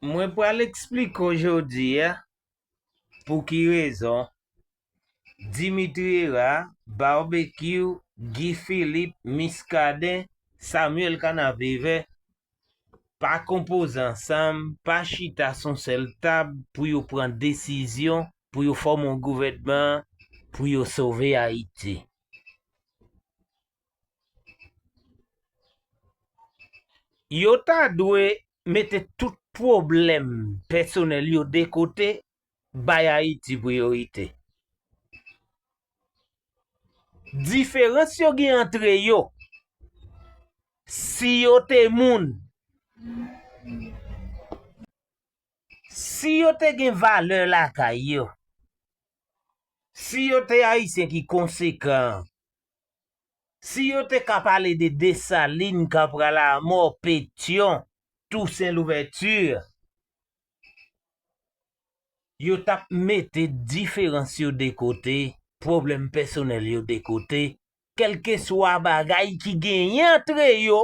Mwen pral eksplike w jodi a pou ki rezon Dimitri Herard, Barbecue, Guy Philippe, Muscadin, Samuel Canaveve pa konpoze ansanm, pa chita sou yon sèl tab pou yo pran desizyon pou yo fòme yon gouvènman pou yo sove Ayiti. Yo ta dwe mete tout pwoblèm pèsonèl yo de kote, bay Ayiti priyorite. Diferans yo gen antre yo, si yo te moun, si yo te gen valè lakay yo, si yo te Ayisyen ki konsekan, Si yo te ka pale de Dessalines ka pral a mò Pétion Toussaint Louverture yo tap mete diferans yo de kote pwoblèm pèsonèl yo de kote kèlkeswa bagay ki genyen antre yo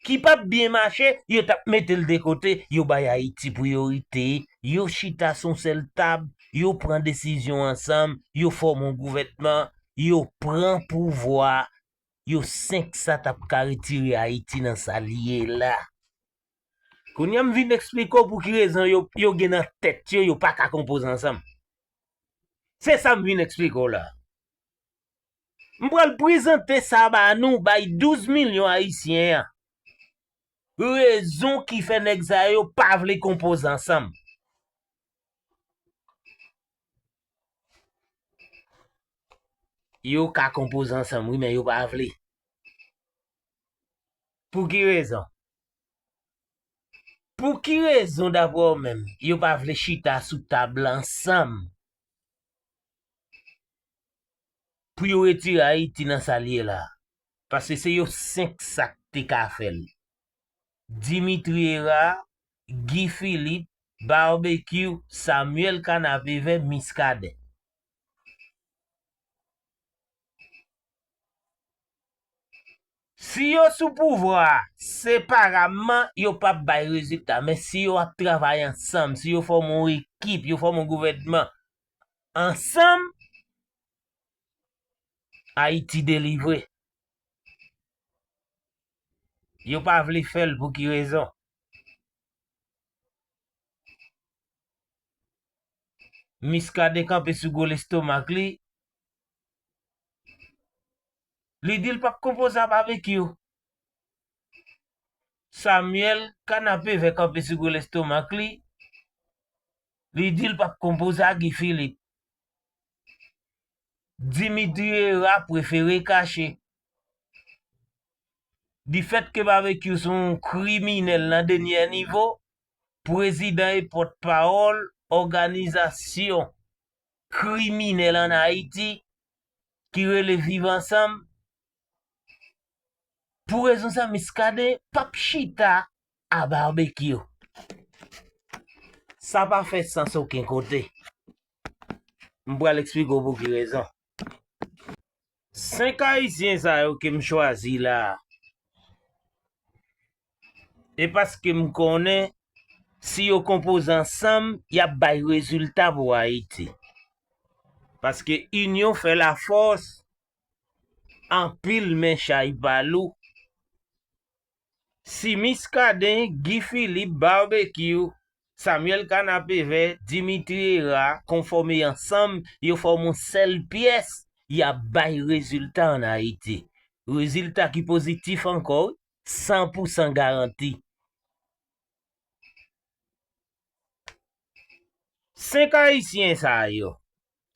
ki pap byen mache yo tap metel de kote yo bay ayiti priyorite yo chita son sèl tab yo pran desizyon ansanm yo fòme yon gouvènman yo pran pouvwa yo 5 sa tap ka retire ayiti nan sal ye la kounya m vin esplike w pouki rezon yo gen nan tèt yo yo paka konpoze ansanm se sam vin esplike w la. M pral prezante sa ba nou bay 12 milyon ayisyen an. Rezon ki fè nèg sa yo pa vle konpoze ansanm. Yo ka konpoze ansanm wi men yo pa vle. Pou ki rezon? Pou ki rezon daprè ou menm yo pa vle chita sou tab la ansanm? Pou yo retire Ayiti nan sa l ye la. Paske se yo 5 sa k te ka fè l. Dimitri Herard, Guy Philippe, Barbecue, Samuel Canapevè, Muscadin. Si yo sou pouvwa a, separamman, yo p ap bay rezilta. Men si yo ap travay ansanm, si yo fòme yon ekip, yo fòme yon gouvènman, ansanm Haiti delivre. Yo pa vle fel pou ki rezon. Miskaden kanpe sou gwo lestomak li. Li dil pap konpoze a Babekyou. Samuel kanapevè kanpe sou gwo lestomak li. Li di l pa p konpoze a Guy Philippe. Dimitri Hera prefere kache. Di fèt ke Babekyou se yon kriminèl nan denyè nivo, prezidan e pòt pawòl òganizasyon kriminèl an Ayiti ki rele Viv Ansanm, pou rezon sa Miskaden pa p chita a barbecue. Sa pa fè sans oken kote. M pral eksplike w pou ki rezon. 5 ayisyen sa yo ke m chwazi la a, e paske m konnen si yo konpoze ansanm y ap bay rezilta pou Ayiti. Paske inyon fè lafòs, anpil men chay pa lou, Si Miskaden, Guy Philippe, Barbecue, Samuel Kanapevè, Dimitri Hera konfòme ansanm yo fòm yon sèl pyès yap bay rezilta an Ayiti. Rezilta ki pozitif ankò wi, san pou san garanti. 5 ayisyen sa yo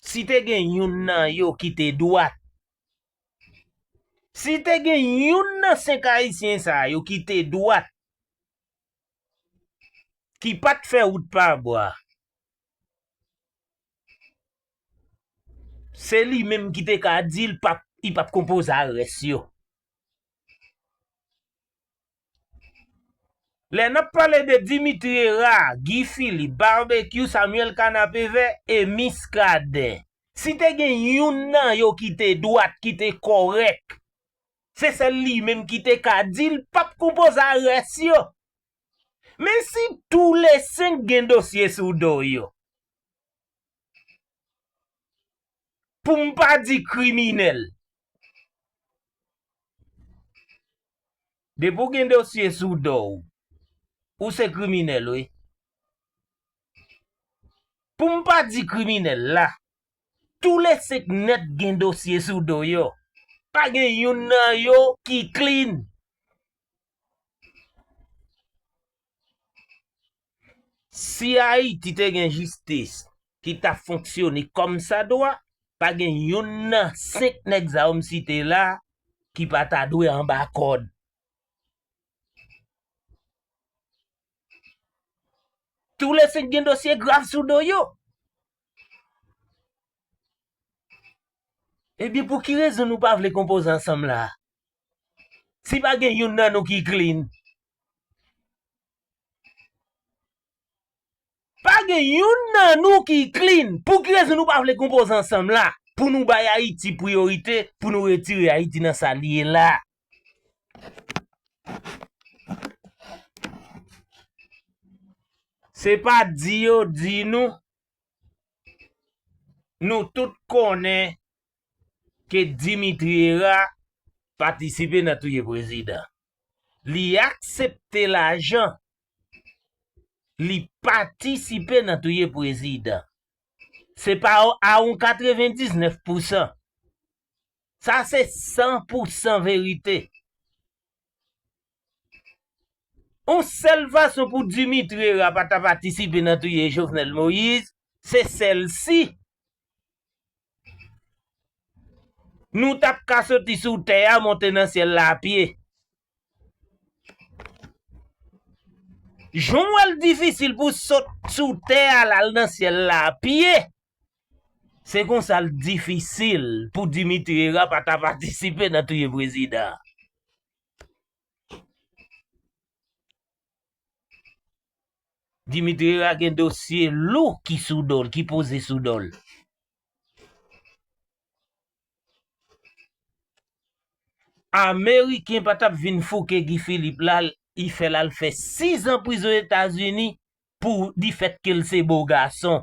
Si te gen youn nan yo ki te dwat, si te gen youn nan 5 ayisyen sa yo ki te dwat, ki pa t fè wout pa bwa, se li menm ki te ka di li pa p konpoze a rès yo. Lè nap pale de Dimitri Herard, Guy Philippe, Barbecue, Samuel Canapé-Vert e Muscadin, si te gen youn nan yo ki te dwat, ki te kòrèk, se sèl li menm ki te ka di l pap konpoze a rès yo. Men si tou le 5 gen dosye sou do yo, pou m pa di kriminèl, Depi w gen dosye sou do w, ou se kriminèl wi. Pou m pa di kriminèl la, tou le 5 nèt gen dosye sou do yo. Pa gen youn nan yo ki clean. Si Ayiti te gen jistis ki ta fonksyone kòm sa dwa, pa gen youn nan 5 nèg sa yo m site la ki pa ta dwe anba kòd. Tou le 5 gen dosye grav sou do yo. Ebyen pou ki rezon nou pa vle konpoze ansanm la? Si pa gen youn nan nou ki clean. Pa gen youn nan nou ki clean. Pou ki rezon nou pa vle konpoze ansanm la pou nou bay Ayiti priyorite pou nou retire Ayiti nan sa li ye la. Se pa di yo di nou, nou tout konnen ke Dimitri Hera patisipe nan touye prezidan. Li aksepte lajan. Li patisipe nan touye prezidan. Se pa a yon 99 pousan. Sa se 100 pousan verite. On sèl fason pou Dimitri ra pa ta patisipe nan touye Jovenel Moïse, se sèl si nou t ap ka soti sou tè a monte nan syèl la apye. Jan w wè l difisil pou sot sou tè a al nan syèl la apye, se konsa l difisil pou Dimitri ra pa ta patisipe nan touye prezidan an. Dimitri Herard gen dosye lou ki sou do l, ki poze sou do l. Ameriken pa t ap vin fouke Guy Philippe la, li fè l al fè sizan prizon Etazini pou difèt ke l se bo gason.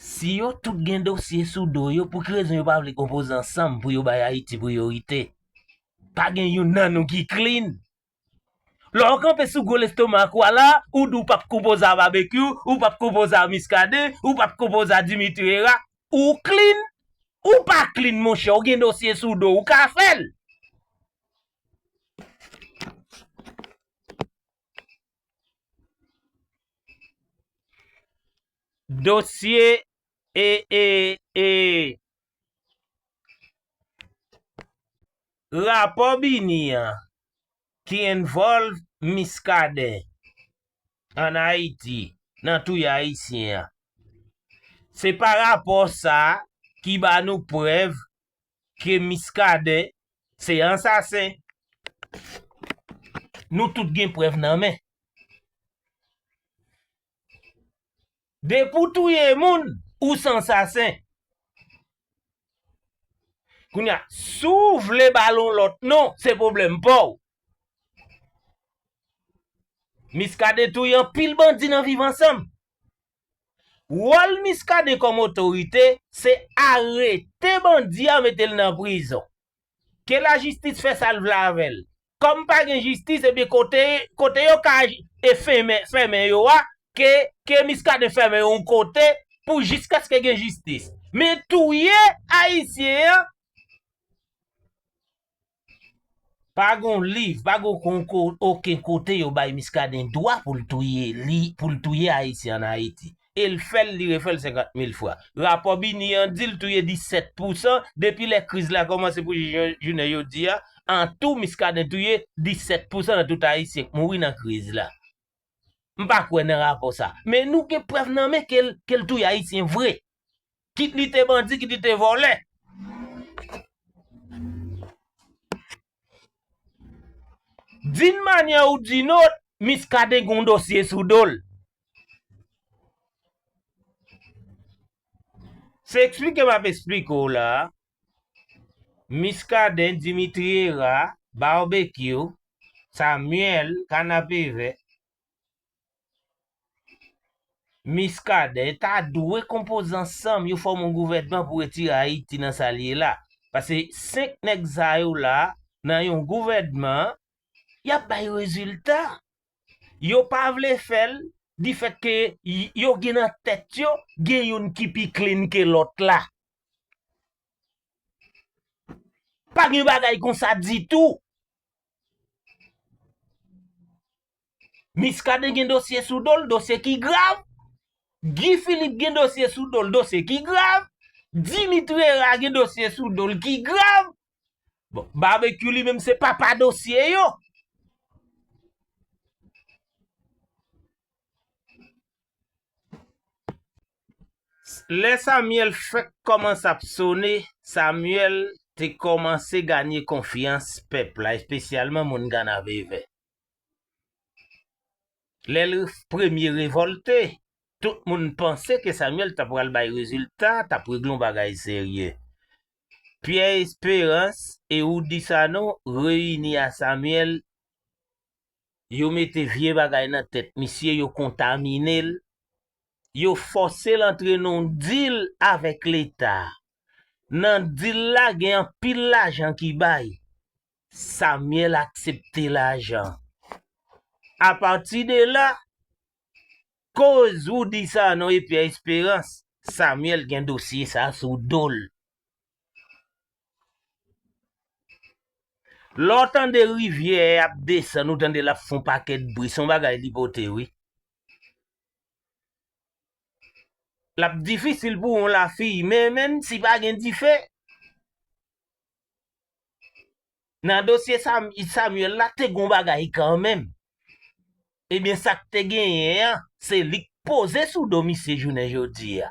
Si yo tout gen dosye sou do yo pou ki rezon yo pa vle konpoze ansanm pou yo bay Ayiti priyorite? Pa gen youn nan nou ki clean. Lè w kanpe sou gwo lestomak ou a la, ou di w pap konpoze a Babekyou, ou pap konpoze a Miskaden, ou pap konpoze a Dimitri Hera, ou clean? Ou pa clean monchè, ou gen dosye sou do, ou ka fè l! Dosye e e e rapò bini an ki envòlv Miskaden an Ayiti nan touye ayisyen an se pa rapò sa ki ba nou prèv ke Muscadin se ansasen. Nou tout gen prèv nan men. Depi w touye moun, ou se ansasen. Kounya, si w vle ba l yon lòt non, se pwoblèm pa w. Muscadin touye anpil bandi nan Viv Ansanm. Wòl Muscadin kòm otorite se arete bandi a mete l nan prizon. Ke lajistis fè sa l vle avè l. Kòm pa gen jistis ebyen kote kote yo ka fenmen fèmen yo a ke ke Muscadin fèmen yo yon kote pou jiskaske gen jistis. Men touye ayisyen an. Pa gon liv, pa gon oken kote yo bay Miskaden dwa pou l touye li, pou l touye Ayisyen an Ayiti. E l fè l, li refè l 50 mil fwa. Rapò BINUH an di l touye 17 pousan, depi lè kriz la kòmanse pou jis jounen jodi a, an tou Miskaden touye 17 pousan nan tout Ayisyen k mouri nan kriz la. M pa kwè nan rapò sa. Men nou gen prèv nan men ke l touye Ayisyen vre. Kit li te bandi, kit li te vòlè. Din manyè ou din ot, Miskaden gen yon dosye sou do l. Se eksplike m ap eksplike w la a. Miskaden, Dimitri Hera, Barbecue, Samuel, Kanapevè, Miskaden ta dwe konpoze ansanm yo fòm yon gouvènman pou retire Ayiti nan sa li ye la. Pase 5 nèg sa yo la nan yon gouvènman y ap bay rezilta. Yo pa vle fè l difèt ke yo gen nan tèt yo gen youn ki pi klin ke lòt la. Pa gen bagay konsa ditou. Miskaden gen dosye sou dol, dosye ki grav, Guy Philippe gen dosye sou dol, dosye ki grav, Dimitri Herard gen dosye sou dol ki grav, bon Barbecue li menm se papa dosye yo. Lè Samuel fèk kòmanse ap sone, Samuel te kòmanse ganye konfyans pèp la espesyalman moun Kanavevè. Lè l premye revòlte, tout moun panse ke Samyèl ta pral bay rezilta, ta pregle yon bagay serye. Pyè Esperans e Oudi Sanon reyini a Samyèl, yo mete vye bagay nan tèt misye, yo kontamine l, yo fòse l antre nan yon dil avèk Leta. Nan dil la gen anpil lajan ki bay. Samuel aksepte lajan. A pati de la, koz Roody Sanon e Pierre Espérance, Samuel gen dosye sa sou do l. Lè w tande rivyè ap desann, ou tande l ap fon pakèt bri, son bagay li pote wi. L ap difisil pou yon lafiy menmen si pa gen dife. Nan dosye Samuel la te gon bagay kanmenm. Ebyen sak te genyen an se lik poze sou do misye jounen jodi a.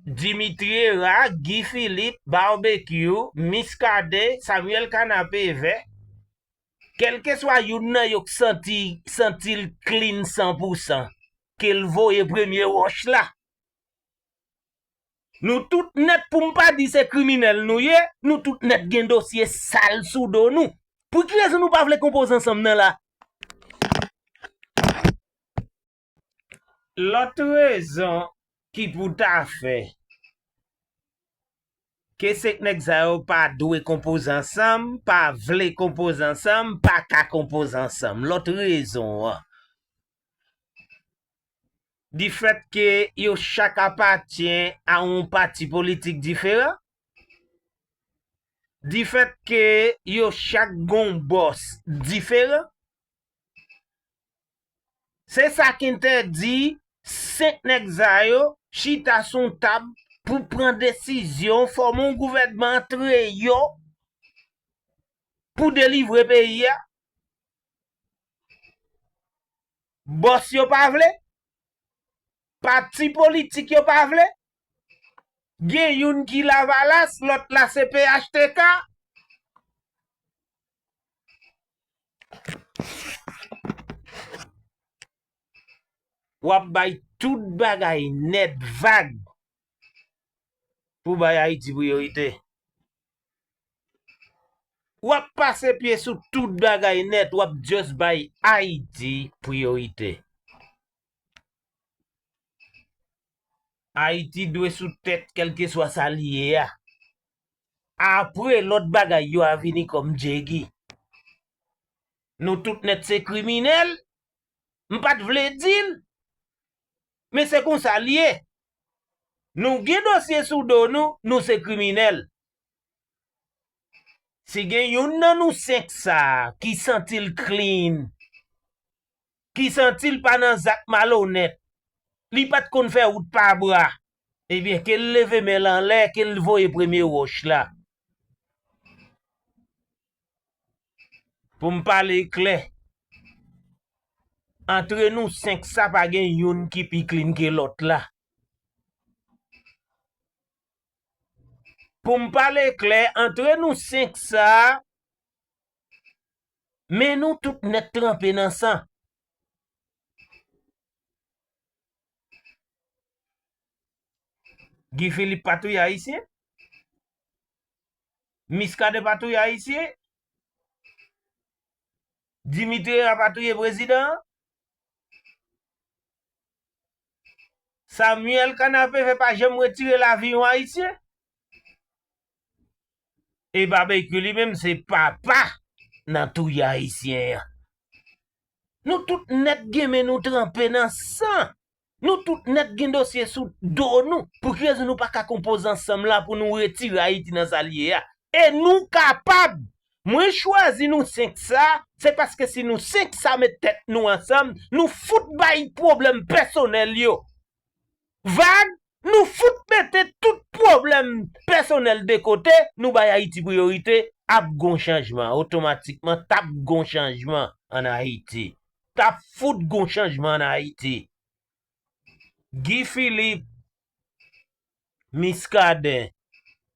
Dimitri Hera, Guy Philippe, Barbecue, Miskaden, Samuel Kanapevè, kelkeswa youn nan yo k santi santil klin san pou san kel voye premye wòch la. Nou tout nèt pou m pa di se kriminèl nou ye, nou tout nèt gen dosye sal sou do nou. Pou ki rezon nou pa vle konpoze ansanm nan la? Lòt rezon ki pou ta fè ke se nèg sa yo pa dwe konpoze ansanm, pa vle konpoze ansanm, pa ka konpoze ansanm. Lòt rezon an, di fèt ke yo chak apatyen a yon pati politik diferan, di fèt ke yo chak gon bòs diferan, se sa k entèdi 5 nèg sa yo chita sou yon tab pou pran desizyon fòme yon gouvènman antre yo pou delivre peyi a. Bòs yo pa vle? Pati politik yo pa vle? Gen youn ki lavalas lòt la se phtk? Wap bay tout bagay nèt vag pou bay Ayiti priyorite. Wap pase pye sou tout bagay nèt wap just bay ayiti priyorite. Ayiti dwe sou tèt kelkeswa sa li ye a. Apre lòt bagay yo a vini kòm djegi. Nou tout nèt se kriminèl M pat vle di l, men se konsa l ye. Nou gen dosye sou do nou, nou se kriminèl. Si gen youn nan nou senk sa a ki santi l clean, ki santi l pa nan zak malonèt, li pat konn fè wout pa bra, ebyen ke l leve men l anlè, ke l voye premye wòch la. Pou m pale klè, antre nou senk sa pa gen youn ki pi klin ke lòt la. Pou m pale klè, antre nou senk sa, men nou tout nèt tranpe nan san. Guy Philippe pa touye Ayisyen? Miskaden pa touye ayisyen? Dimitri Herard pa touye prezidan an? Samuel Canavehe pa janm retire lavi yon ayisyen? E Babekyou li menm se papa nan touye ayisyen an? Nou tout nèt gen men nou tranpe nan san! Nou tout nèt gen dosye sou do nou, pou ki rezon nou pa ka konpoze ansanm la pou nou retire Ayiti nan sa l ye a? E nou kapab! Mwen chwazi nou 5 sa, se paske si nou 5 sa met tèt nou ansanm, nou fout bay pwoblèm pèsonèl yo vag, nou fout mete tout pwoblèm pèsonèl de kote, nou bay Ayiti priyorite, ap gon chanjman, otomatikman t ap gon chanjman an Ayiti. Ta fout gon chanjman an Ayiti. Guy Philippe, Muscadin,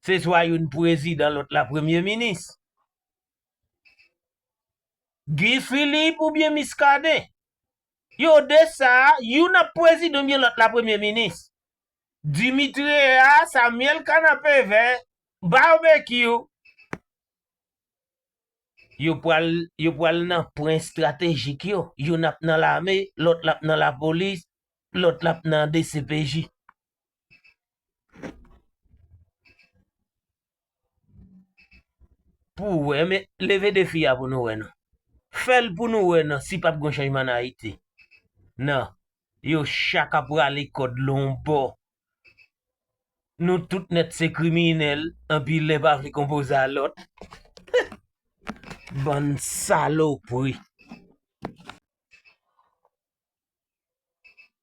se swa youn prezidan lòt la premye minis. Guy Philippe oubyen Muscadin. Yo de sa, youn ap prezidan oubyen lòt la premye minis. Dimitrea, Samuel Kanapevè, Barbecue. Yo pral yo pral nan pwen estratejik yo, youn ap nan lame, lòt la ap nan lapolis, lòt la ap nan dcpj. Pou ou wè men leve defi a pou nou wè nan. Fè l pou nou wè nan si pap gon chanjman nan Ayiti. Nan, yo chak ap rale kòd lon bò Nou tout nèt se kriminèl, anpi len pa vle konpoze a lòt. Bann salopri.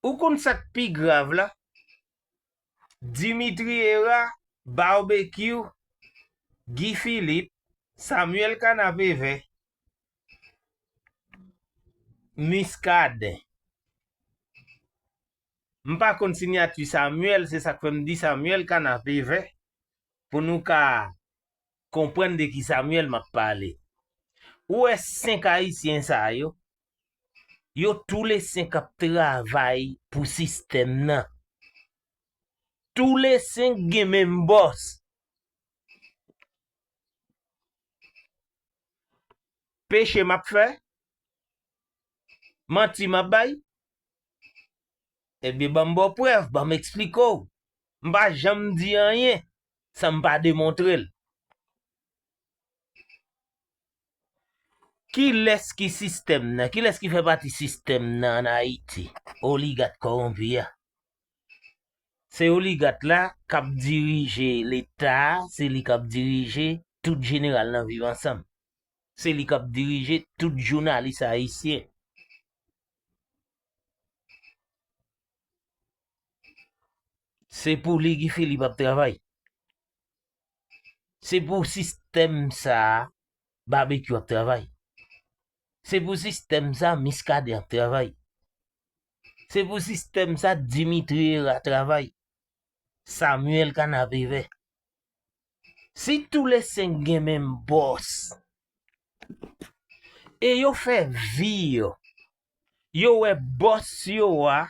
Ou konn sa k pi grav la? Dimitri Hera, Barbecue, Guy Philippe, Samuel Canapé-Vert, Muscadin. M pa konn sinyati Samuel se sak fè m di Samuel kanape vè pou nou ka konprann de ki Samuel map pale. Ou wè 5 ayisyen sa yo, yo tou le 5 ap travay pou sistèm nan. Tou le 5 gen menm bòs. Peche map fè? Manti map bay? Ebyen banm baw prèv, banm eksplike w. M pa janm di anyen san m pa demontre l. Kilès ki sistèm nan? Kilès ki fè pati sistèm nan an Ayiti? Oligat kowonpi a. Se oligat la k ap dirije leta a, se li k ap dirije tout jeneral nan viv ansanm. Se li k ap dirije tout jounalis ayisyen. Se pou li Guy Philippe ap travay. Se pou sistèm sa a Babekyou ap travay. Se pou sistèm sa a Miskaden ap travay. Se pou sistèm sa a Dimitri Herard travay. Samuel Canapé Vert. Si tou le 5 gen menm bòs e yo fè vi yo, yo wè bòs yo a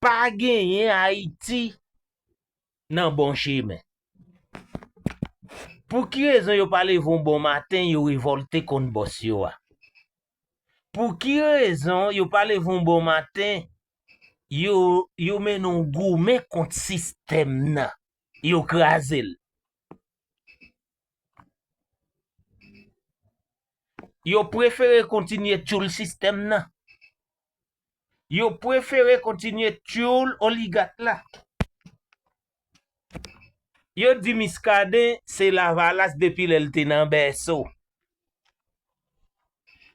pa genyen Ayiti nan bon chemen. Pou ki rezon yo pa leve yon bon maten yo revòlte kont bòs yo a? Pou ki rezon yo pa leve yon bon maten, yo mennen yon goumen kont sistèm nan, yo kraze l. Yo prefere kontinye tyoul sistèm nan. Yo prefere kontinye tyoul oligat la. Yo di Muscadin se lavalas depi lè l te nan bèso.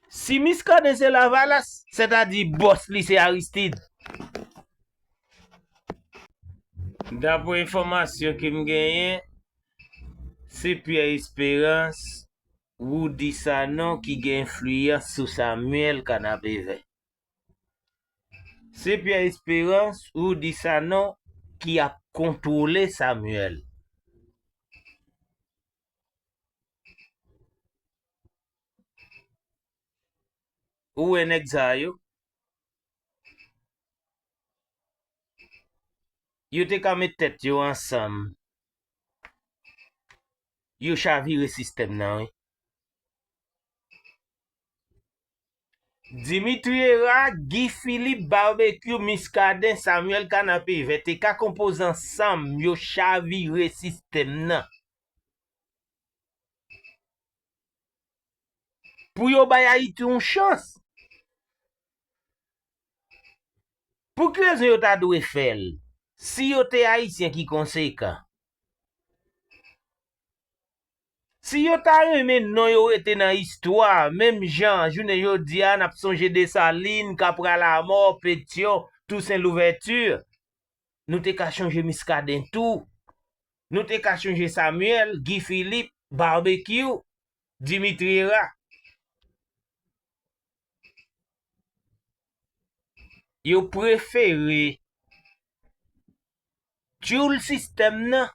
Si Muscadin se lavalas, sètadi bòs li se Aristide. Dapre enfòmasyon ke m genyen, se Pierre Esperance, Roody Sanon ki gen enfliyans sou Samuel Kanapevè. Se Pierre Esperance ou di Sanon ki ap kontwole Samuel. Ou wè nèg sa yo? Yo te ka met tèt yo ansanm yo chavire sistèm nan wi. Dimitri Herard, Guy Philippe, Barbecue, Muscadin, Samuel Canapé Vert te ka konpoze ansanm yo chavire sistèm nan pou yo bay Ayiti yon chans. Pou ki rezon yo ta dwe fè l? Si yo te Ayisyen ki konsekan. Si yo ta renmen non yo rete nan istwa, menm jan jounen jodi a n ap sonje Desalin, Kapra Lamò, Petyon, Tousen Louvèti, nou te ka chonje Miskaden tou, nou te ka chonje Samyèl, Gi Filip, Babekyou, Dimitri Era. Yo prefere tyoul sistèm nan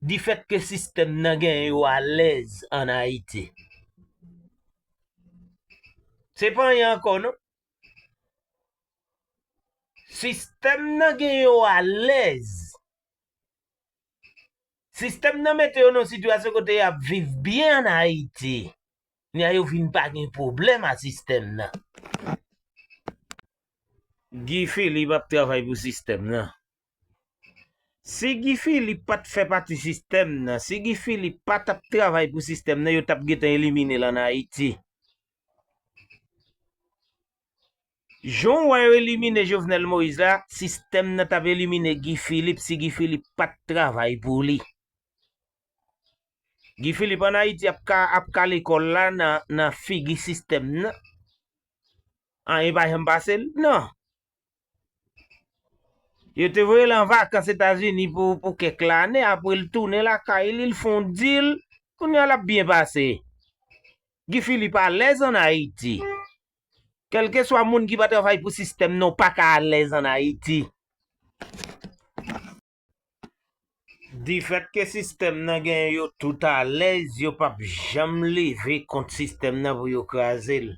difèt ke sistèm nan gen yo alèz an Ayiti. Se pa anyen ankò non. Sistèm nan gen yo alèz. Sistèm nan mete yo nan yon sitiyasyon kote y ap viv byen an Ayiti. Kounye a yo vin pa gen pwoblèm a sistèm nan. Guy Philippe ap travay pou sistèm nan. Si Guy Philippe pat fè pati sistèm nan, si Guy Philippe pa tap travay pou sistèm nan yo tap gentan eliminel an Ayiti. Jan w wè yo elimine Jovenel Moïse la, sistèm nan tap elimine Guy Philippe si Guy Philippe pat travay pou li. Guy Philippe an Ayiti ap kale kò l la nan figi sistèm nan. Anyen pa janm pase l nan. Yo te voye l an vakans Etazini pou kèk lane, apre l tounen lakay li, l fè yon dil, kounye a l ap byen pase. Guy Philippe alèz an Ayiti. Kèlkeswa moun ki pa travay pou sistèm nan ou pa ka alèz an Ayiti. Difèt ke sistèm nan genyen yo tout alèz, yo pap janm leve kont sistèm nan pou yo kraze l.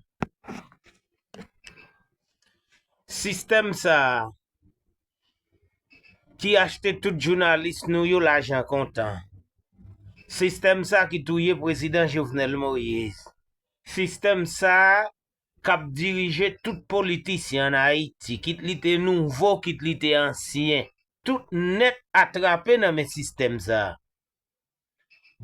Sistèm sa a ki achte tout jounalis nou yo lajan kontan. Sistèm sa a ki touye prezidan Jovenel Moïse. Sistèm sa a kap dirije tout politisyen an Ayiti, kit li te nouvo, kit li te ansyen, tout nèt atrape nan men sistèm sa a.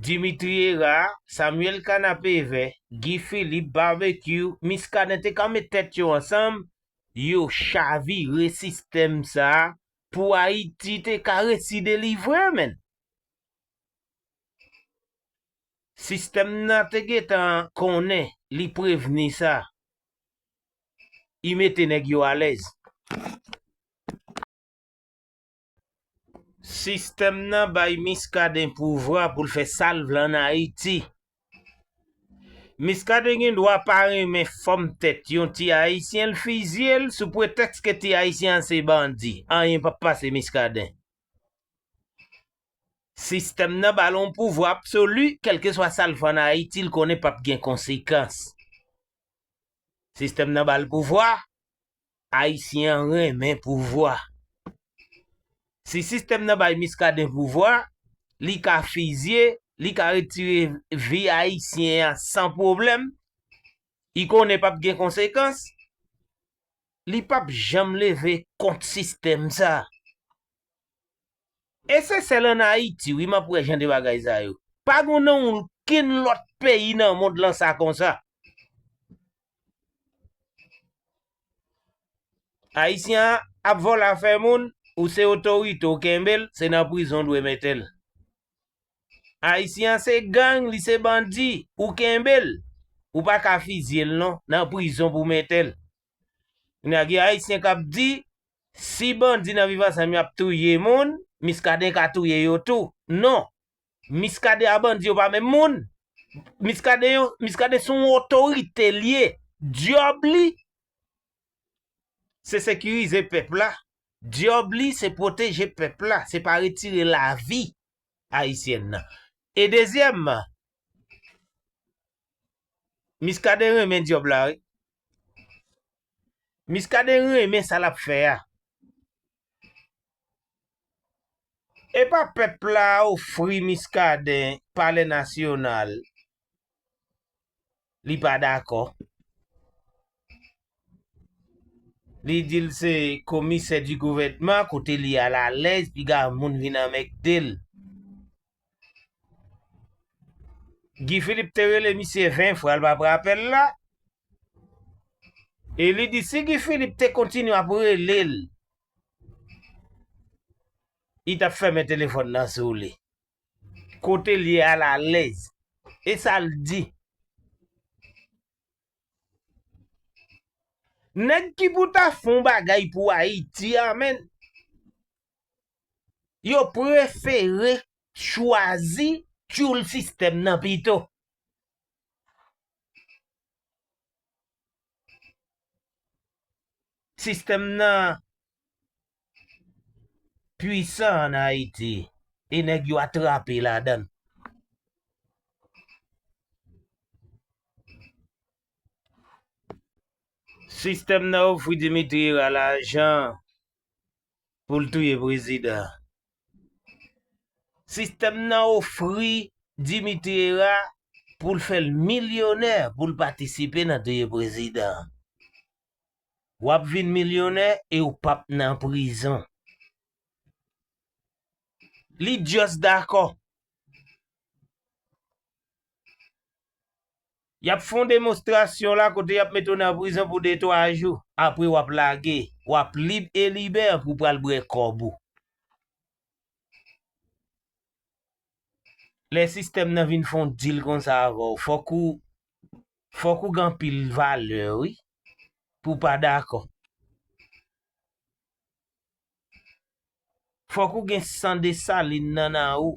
Dimitri Herard, Samuel Kanapevè, Guy Philippe, Barbecue, Muscadin te ka met tèt yo ansanm, yo chavire sistèm sa a pou Ayiti te ka resi delivre men. Sistèm nan te gentan konnen li prevni sa I mete nèg yo alèz. Sistèm nan bay Miskaden pouvwa pou l fè sa l vle an Ayiti. Miskaden gen dwa pa renmen fòm tèt yon ti Ayisyen l fizye l sou pretèks ke ti Ayisyen an se bandi. Anyen pap pase Miskaden. Sistèm nan ba l yon pouvwa absoli, kèlkeswa sa l fè ann Ayiti, l konnen p ap gen konsekans. Sistèm nan ba l pouvwa, Ayisyen an renmen pouvwa. Si sistèm nan bay Miskaden pouvwa, li ka fizye, li ka retire vi Ayisyen an san pwoblèm, li konnen p ap gen konsekans, li p ap janm leve kont sistèm sa a. E se sèl an Ayiti wi map wè jan de bagay sa yo. Pa gon nan ounlkenn lòt peyi nan mond lan sa konsa. Ayisyen an ap vòlè afè moun, ou se otorite ou kenbe l, se nan prizon ou dwe mete l. Ayisyen an se gang, li se bandi, ou kenbe l, ou pa ka fizye l non, nan prizon pou w mete l. Kounye a gen ayisyen kap di si bandi nan viv ansanm yo ap touye moun, Miskaden ka touye yo tou. Non! Miskaden a bandi yo pa menm moun. Miskaden yo, Miskaden se yon otorite li ye. Dyòb li se sekirize pèp la, dyòb li se pwoteje pèp la, se pa retire lavi ayisyen nan. E dezyèmman, Miskaden renmen dyob la wi. Miskaden renmen sa lap fè a. Epa pèp la ofri Miskaden palè nasyonal li pa dakò. Li di l se komisè di gouvènman kote li alalèz piga moun vin anmègde l. Guy Philippe te rele misye 20 fwa l pa pran apèl la. E li di si Guy Philippe te kontinye ap rele l, li t ap fèmen telefòn nan sou li. Kote l ye a l alèz. E sa l di. Nèg ki pou ta fon bagay pou Ayiti a menn. yo prefere chwazi tyoul sistèm nan pito. Sistèm nan pwisan an Ayiti e nèg yo atrape ladan l. Sistèm nan ofri Dimitri Herard lajan pou l touye prezidan an. Sistèm nan ofri Dimitri Hera pou l fè l milyonè pou l patisipe nan touye prezidan an. W ap vin milyonè e w p ap nan prizon. Li just dakò. Y ap fè yon demonstrasyon la kote y ap mete w nan prizon pou de twa jou. Apre w ap lage, w ap lib e libè pou w pral bwè kòb ou. Lè sistèm nan vin fè yon dil konsa avè w, fòk ou fòk ou gen anpil valè wi pou w pa dakò. Fòk ou gen san Desalin nan nan ou.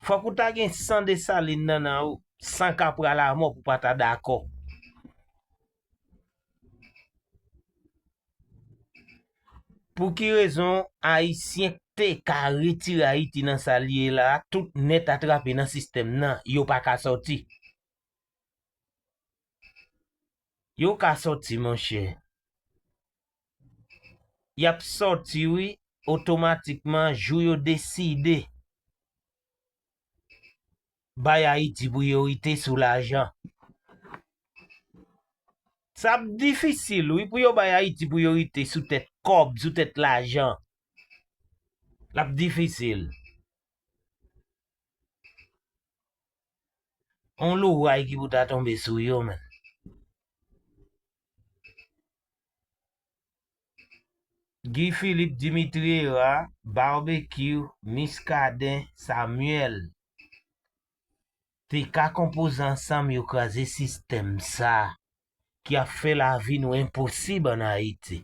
Fòk ou ta gen san Desalin nan nan ou. San kapral a mò pou pa ta dakò. Pou ki rezon Ayisyen te ka retire Ayiti nan sa li ye la a tout nèt atrape nan sistèm nan, yo pa ka sòti? Yo ka sòti monchè. Yap sòti wi otomatikman jou yo deside bay Ayiti priyorite sou lajan. Sa ap difisil wi pou yo bay Ayiti priyorite sou tèt kòb, sou tèt lajan. L ap difisil. On loray ki pou ta tonbe sou yo menn. Guy Philippe Dimitri Hera Barbecue Miskaden Samuel te ka konpoze ansanm yo kraze sistèm sa ki ap fè lavi nou enposib an Ayiti.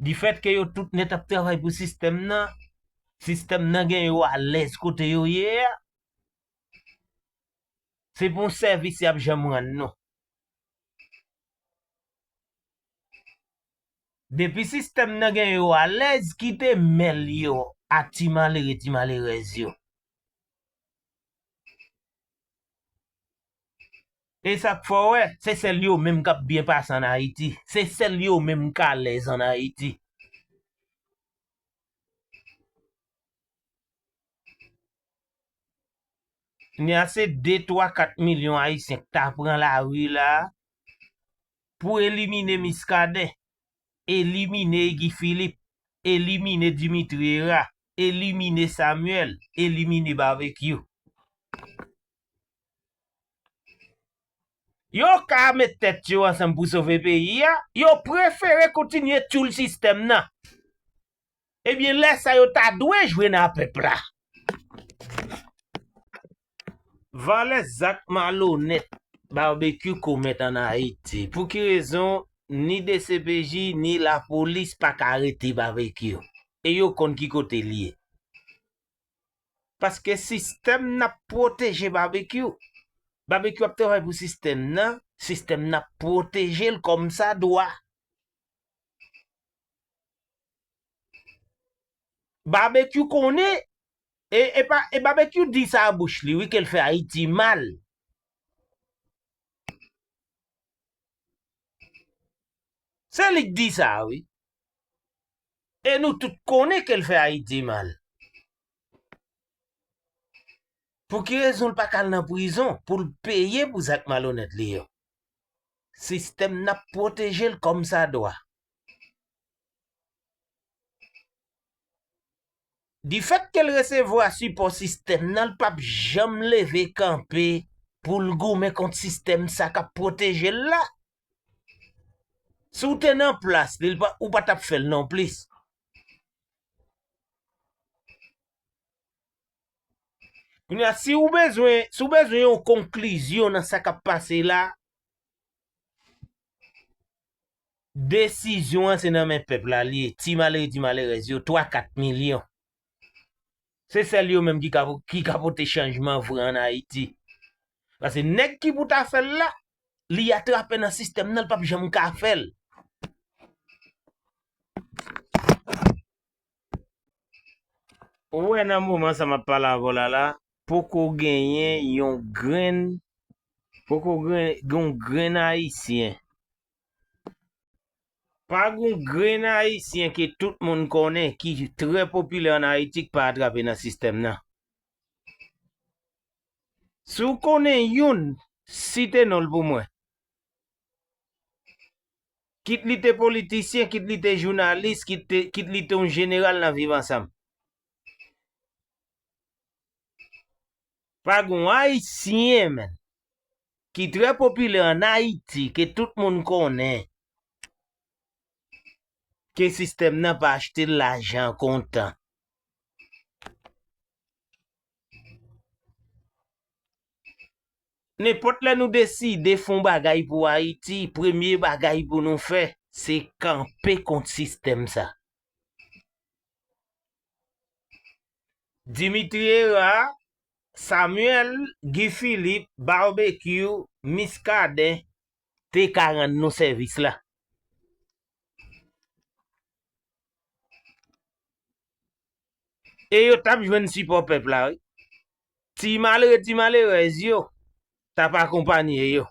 Di fèt ke yo tout nèt ap travay pou sistèm nan, sistèm nan gen yo alèz kote yo ye a, se pou yon sèvis y ap janm rann nou. Depi sistèm nan gen yo alèz kite men l yo ak ti malere ti malerèz yo. E sa k fè w wè se sèl yo menm k ap byen pase ann Ayiti, se sèl yo menm k alèz ann Ayiti. Kounye a se 2, 3, 4 milyon Ayisyen k ta pran lari la a pou elimine Miskaden, elimine Guy Philippe, elimine Dimitri Hera, elimine Samuel, elimine Barbecue. Yo ka met tèt yo ansanm pou sove peyi a, yo prefere kontinye tyoul sistèm nan. Ebyen lè sa yo ta dwe jwe nan pèp la. Valè zak malonèt Barbecue komèt an Ayiti. Pou ki rezon ni dcpj ni lapolis pa ka arete Barbecue? E yo konn ki kote l ye. Paske sistèm nan ap pwoteje Barbecue. Barbecue ap travay pou sistèm nan, sistèm nan ap pwoteje l kòmsadwa. Babekyou konnen e epa e babekyou di sa a bouch li wi kel fè ayiti mal. Se li k di sa a wi. E nou tout konnen kel fè ayiti mal. Pouki rezon l paka al nan prizon poul peye pou zak malonèt li yo. Sistèm nan ap pwoteje l kòm sa dwa. Difèt ke l resevwa sipò sistèm nan, l p ap janm leve kanpe pou l goumen kont sistèm sa k ap pwoteje l la. Si w te nan plas li, ou pa t ap fè l nonplis. Kounye a, si ou bezwen, si ou bezwen yon konklizyon nan sa k ap pase la, desizyon an se nan men pèp la li ye, ti malere ti malerèz yo, 3, 4 milyon. Se sèl yo menm ki ka, ki ka pote chanjman vre an Ayiti. Pase nèg ki pou ta fè l la, li atrape nan sistèm nan, l pap janm ka fè l. Ou wè nan moman sa map pale avèw la la poko genyen yon grenn poko genyen yon grenn ayisyen pa gon grenn ayisyen ke tout moun konnen ki trè popilè an ayiti ki pa atrape nan sistèm nan si w konnen youn site nonl pou mwen Kit li te politisyen, kit li te jounalis, kit li te yon jeneral nan Viv Ansanm. Pa gen yon Ayisyen menm ki trè popilè an Ayiti ke tout moun konnen ke sistèm nan pa achte l lajan kontan. Nenpòt lè nou deside fon bagay pou Ayiti, premye bagay pou nou fè, se kanpe kont sistèm sa. Dimitri Hera, Samuel, Guy Philippe, Barbecue, Muscadin te ka rann nou sèvis la. e yo tap jwenn sipò pèp la wi. Ti malere ti malerèz yo tap akonpanye yo.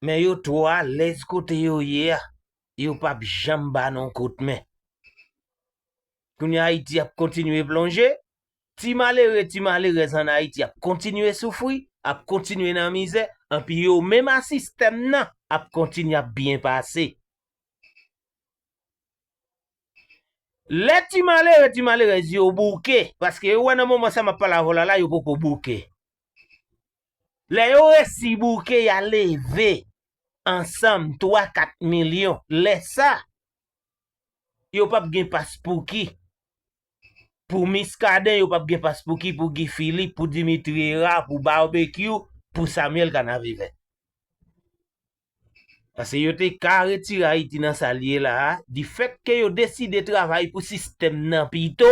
Men yo twò alèz kote yo ye a, yo pap janm ba nou kout men. Kounye a Ayiti ap kontinye plonje, Ti malere, ti malerèz an Ayiti ap kontinye soufri, ap kontinye nan mizè, anpi yo menm a sistèm nan ap kontinye ap byen pase. Lè ti malere, ti malerèz yo bouke, paske yo wè nan moman sa m ap pale avè w la la yo poko bouke. Lè yo resi bouke ya leve ansanm 3, 4 milyon, lè sa, yo p ap gen paspouki Pou Miskaden yo pap gen pas pouki pou Guy Philippe pou Dimitri Hera pou Barbecue pou Samuel Canavivè. Pase yo te ka retire Ayiti nan sa li ye la a di fèt ke yo deside travay pou sistèm nan pito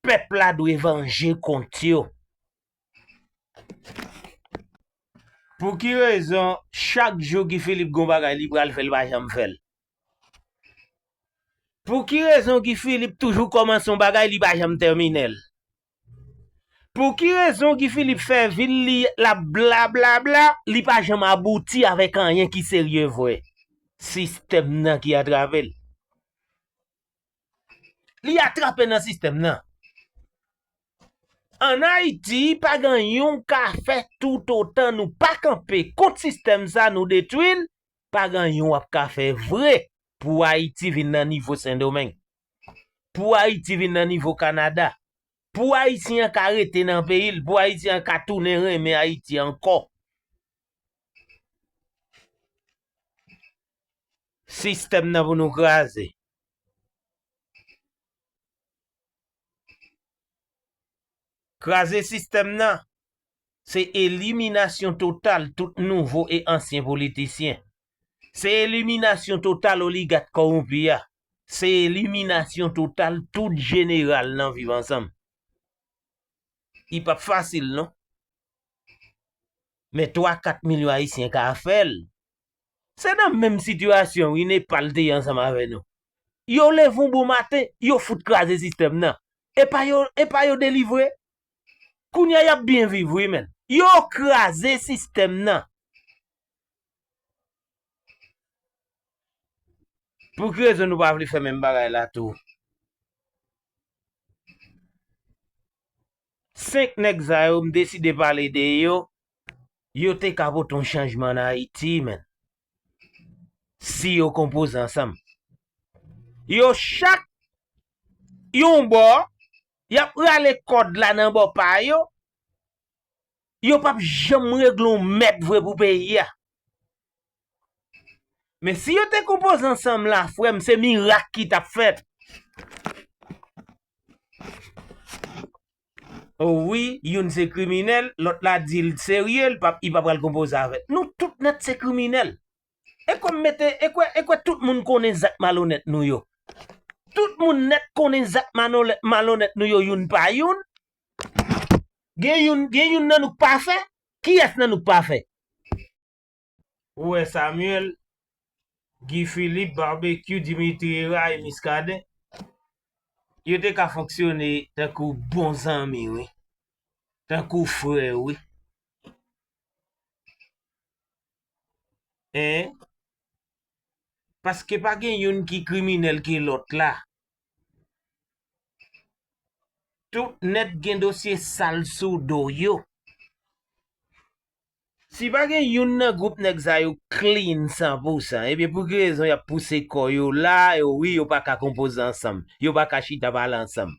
pèp la dwe vanje kont yo. Pou ki rezon chak jou Guy Philippe gon bagay li pral fè li pa janm fèl. Pou ki rezon Guy Philippe toujou kòmanse yon bagay li pa janm tèmine l? Pou ki rezon Guy Philippe fè vi l li l ap blablabla li pa janm abouti avèk anyen ki serye vre? Sistèm nan ki atrave l. Li atrape nan sistèm nan. An Ayiti pa gen anyen w ka fè toutotan nou pa kanpe kont sistèm sa nou detwi l pa gen anyen wap ka fè vre pou Ayiti vin nan nivo Sendomeng, pou Ayiti vin nan nivo Kanada, pou Ayisyen an ka rete nan peyi l, pou Ayisyen an ka tounen renmen Ayiti ankò. Sistèm nan pou nou kraze. Kraze sistèm nan Se eliminasyon total tout nouvo e ansyen politisyen. Se eliminasyon total oligat kowonpi a. Se eliminasyon total tout jeneral nan Viv Ansanm. Li pap fasil non. Men 3, 4 milyon Ayisyen ka fè l. Se nan menm sitiyasyon wi Nepal te ye ansanm avè nou. Yo leve yon bon maten, yo fout kraze sistèm nan. E pa yo delivre? Kounya yap byen viv wi menn. Yo kraze sistèm nan. Pou ki rezon nou pa vle fè menm bagay la tou. 5 nèg sa yo m deside pale de yo, yo te ka pote yon chanjman an Ayiti menn. si yo konpoze ansanm. Yo chak yon bò, y ap rale kòd la nan bò pa yo, yo p ap janm regle yon mèd vre pou peyi a. Men si yo te konpoze ansanm la frè m se mirak ki t ap fèt. O wi youn se kriminèl lòt la dil t serye l pap i pa pral konpoze avè t nou tout nèt se kriminèl e kwè m mete e kwè e kwè tout moun konnen zak malonèt nou yo tout moun nèt konnen zak manolè malonèt nou yo youn pa youn gen youn gen youn nan nou k pa fè kiyès nan nou k pa fè. Ou wè Samuel, Guy Philippe, Barbecue, Dimitri Hera e Muscadin? Yo te ka fonksyone tankou bon zanmi wi. Tankou frè wi. Hein? Paske pa gen youn ki kriminèl ke lòt la. Tout nèt gen dosye sal sou do yo. Si pa gen youn nan group nèg sa yo clean san pou san ebyen pou ki rezon yap pouse kò yo la yo wi yo paka konpoze ansanm yo paka chita pale ansanm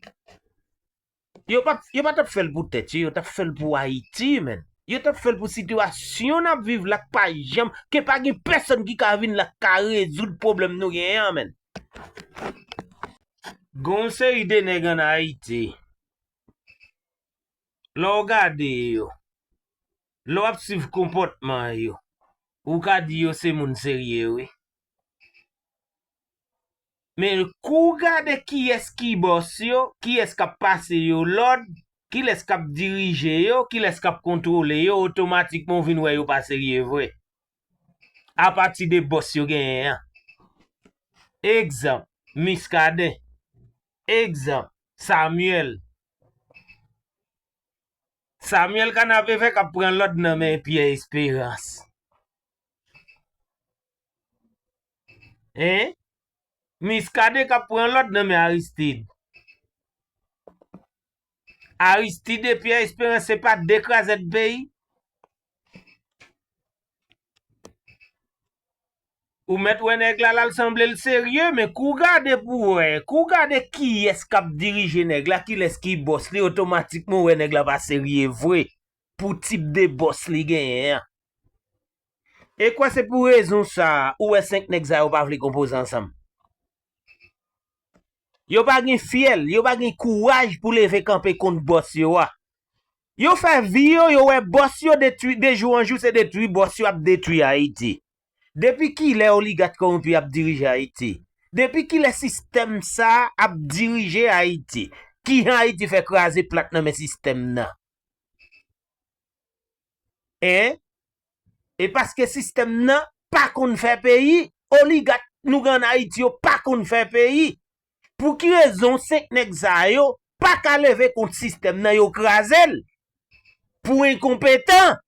yo pap yo pa tap fèl pou tèt yo yo tap fèl pou ayiti menn yo tap fèl pou sitiyasyon nap viv la k pa janm ke pa gen pèsòn ki ka vin la ka rezoud pwoblèm nou gen an menn gonw seri de nèg an ayiti. lè w gade yo, lè w ap swiv konpòtman yo, ou ka di yo se moun serye wi. Men kou w gade kiyès ki bòs yo, kiyès k ap pase yo lòd, kilès k ap dirije yo, kilès k ap kontwole yo, otomatikman ou vin wè yo pa serye vre. Apati de bòs yo genyen an. Egzanp, Miskaden. Egzanp, Samyèl. Samuel kanapevè kap pran lòd nan men Pierre Esperance hein Muscadin kap pran lòd nan men Aristide Aristide et Pierre Esperance se pa 2 krazèd peyi Ou mèt wè nèg la lal sanble l serye men kou w gade pou w wè, kou w gade kiyès k ap dirije nèg la, kilès ki bòs li otomatikman ou wè nèg la pa serye vre pou tip de bòs li genyen an. E kwè se pou rezon sa ou wè 5 nèg sa yo pa vle konpoze ansanm. Yo pa gen fyèl, yo pa gen kouraj pou leve kanpe kont bòs yo a. Yo fè vi yo, yo wè bòs yo detwi, de jou an jou se detwi bòs yo ap detwi Ayiti. Depi kilè oligat kowonpi ap dirije Ayiti? Depi kilè sistèm sa ap dirije Ayiti? Kijan Ayiti fè kraze plat nan men sistèm nan? Hein e paske sistèm nan pa konn fè peyi oligat nou gen an ayiti yo pa konn fè peyi pou ki rezon 5 nèg sa yo pa ka leve kont sistèm nan yo krazel pou enkonpetan.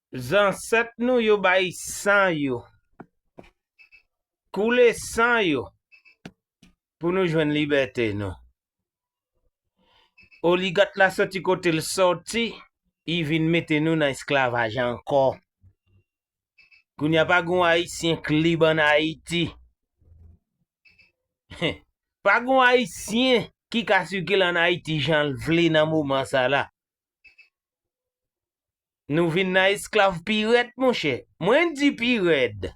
Zansèt nou yo bay san yo. Koule san yo. Pou nou jwenn libète nou. Oligat la soti kote l soti, li vin mete nou nan esklavaj ankò. Kounye a pa gen yon Ayisyen k lib ann Ayiti. Pa gen yon Ayisyen ki ka sikile ann Ayiti jan l vle nan moman sa la. Nou vin nan esklav pirèd monchè. Mwen di pirèd.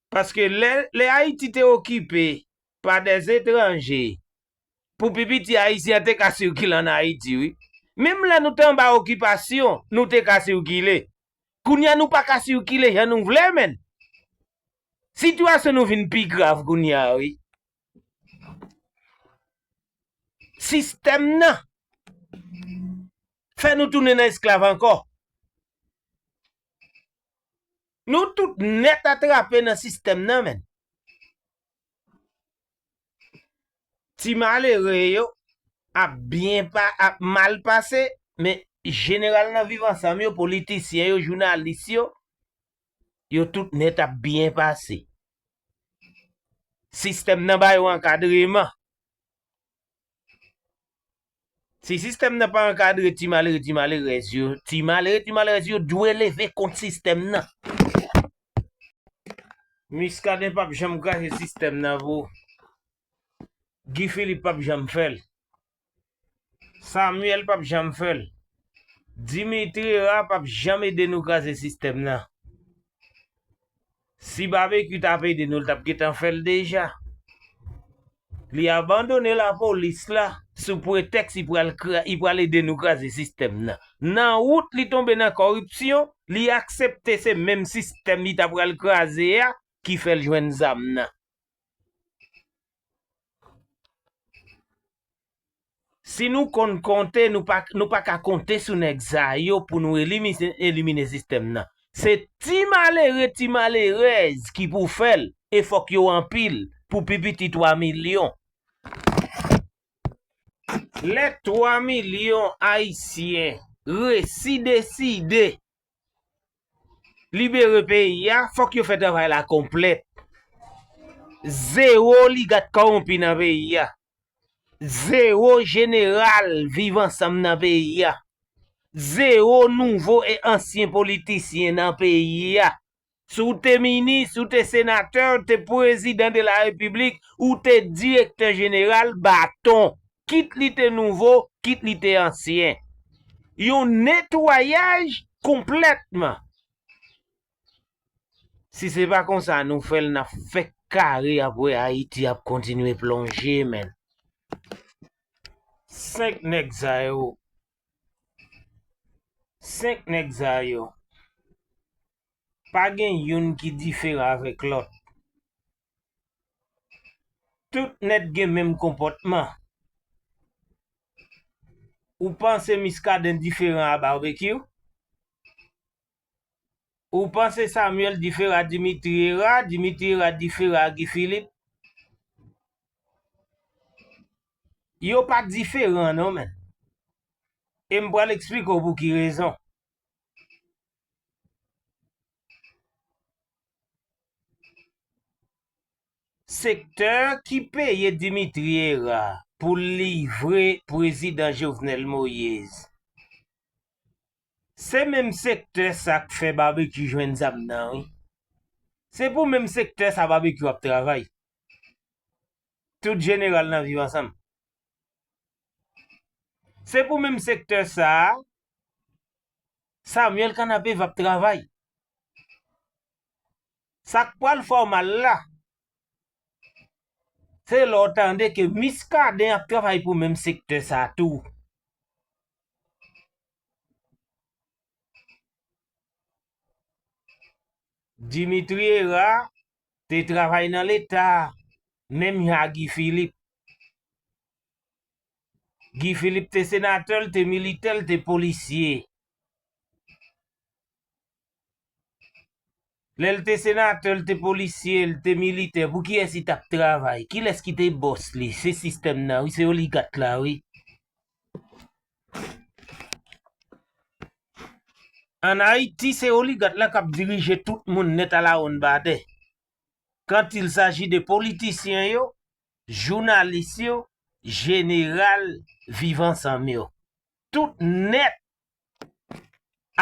Paske lè Ayiti te okipe pa dè etranje, pou pi piti Ayisyen te ka sikile ann Ayiti wi. Menm lè nou te anba okipasyon, nou te ka sikile. Kounye a nou pa ka sikile jan nou vle menn. Sitiyasyon nou vin pi grav kounye a wi. Sistèm nan fè nou tounen nan esklav ankò. Nou tout nèt atrape nan sistèm nan menn. Ti malere yo ap byen pa ap mal pase men jeneral nan viv ansanm yo politisyen yo jounalis yo yo tout nèt ap byen pase. Sistèm nan ba yo ankadreman. Si sistèm nan pa ankadre ti malere ti malerèz yo, ti malere ti malerèz yo dwe leve kont sistèm nan. Muscadin pap janm kraze sistèm nan bro. Guy Philippe pap janm fèl. Samuel pap janm fèl. Dimitri Herard pap janm ede nou kraze sistèm nan. Si Babekyou tap ede nou li tap gentan fèl deja. Li abandone la polis la sou pretèks li pral li pral ede nou kraze sistèm nan. Nan wout li tonbe nan kòripsyon, li aksepte se menm sistèm li ta pral kraze a ki fèl jwenn zam nan. Si nou konn konte nou pa nou pa ka konte sou nèg sa yo pou nou elimine elimine sistèm nan. Se ti malere ti malerèz ki pou fè l e fòk yo anpil pou pi piti 3 milyon. Lè 3 milyon ayisyen resi deside Libere peyi a, fòk yo fè travay la konplèt. Zewo oligat kowonpi nan peyi a. Zewo jeneral viv ansanm nan peyi a. Zewo nouvo e ansyen politisyen nan peyi a. Si w te minis, ou te senatè, ou te pwezidan de la repiblik, ou te direktè jeneral, baton, kit li te nouvo, kit li te ansyen. Yon netwayaj konplètman. Si se pa konsa nou fè l, n ap fèk kare ap wè Ayiti ap kontinye plonje men. 5 nèg sa yo, 5 nèg sa yo pa gen youn ki diferan avèk lòt tout nèt gen menm konpòtman ou panse Miskaden diferan a Barbecue? Ou panse Samuel difera Dimitri era Dimitri era difera a Guy Philippe? Yo pa diferan non menn. E m pral eksplike w pou ki rezon. Sektè ki peye Dimitri era pou l livre prezidan Jovenel Moise. Se menm sektè sa k fè Barbecue jwenn zam nan wi. Se pou menm sektè sa Barbecue ap travay. Tout jeneral nan viv ansanm. Se pou menm sektè sa Samuel Kanapevè ap travay. Sa k pral fè w mal la, se lè w tande ke Muscadin ap travay pou menm sektè sa tou. Dimitri Hera te travay nan leta menm jan a Guy Philippe. Guy Philippe te senatè, li te militè, li te polisye. Lè l te senatè, l te polisye, l te militè, pou kiyès li t ap travay? Kilès ki te bòs li? Se sistèm nan wi, se oligat la wi. An Ayiti, se oligat la k ap dirije tout moun nèt alawonnbadè. Kant il saji de politisyen yo, jounalis yo, jeneral Viv Ansanm yo. Tout nèt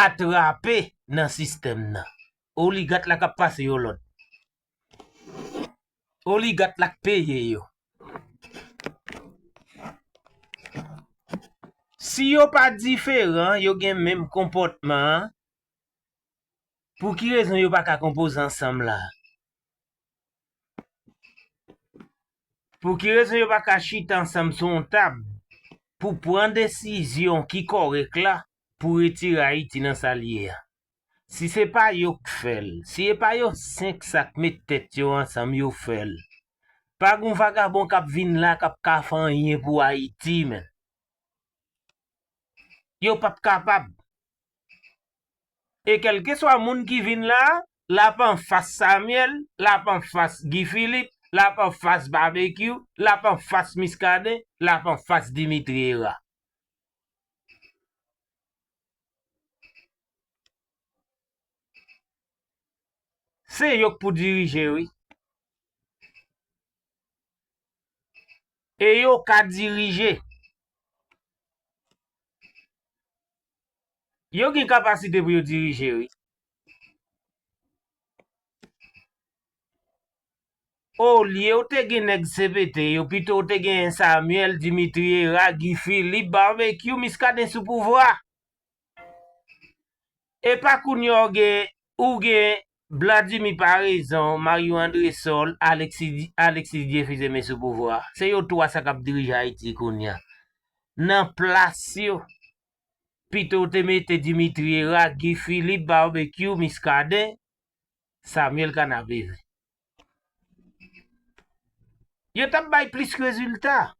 atrape nan sistèm nan. Oligat la kap pase yo lòd. Oligat la k peye yo. Si yo pa diferan, yo gen menm konpòtman an, pou ki rezon yo pa ka konpoze ansanm la? Pou ki rezon yo pa ka chita ansanm sou yon tab pou pran desizyon ki kòrèk la pou retire Ayiti nan sa l ye a? Si se pa yo k fè l, si e pa yo 5 sa k met tèt yo ansanm yo fè l, pa gon vagabon k ap vin la k ap ka fè anyen pou Ayiti menn. Yo p ap kapab. e kèlkeswa moun ki vin la, l ap anfas Samyèl, l ap anfas Guy Philippe, l ap anfas Babekyou, l ap anfas Miskaden, l ap anfas Dimitri Hera. Se yo k pou dirije wi. E yo ka dirije. Yo gen kapasite pou yo dirije wi. Olyew te gen nèg CPT yo pitow te genyen Samuel, Dimitri Hera, Guy Philippe, Barbecue, Muscadin sou pouvwa. Epa kounya ou gen Bladimy Paraison, Mario Andresol, Alexis Dieufils se men sou pouvwa. Se yo 3 sa kap dirije Ayiti kounye a. Nan plas yo, pito w te mete Dimitri Herard, Guy Philippe, Barbecue, Muscadin, Samuel Canaverin. Yo tap bay plis rezilta.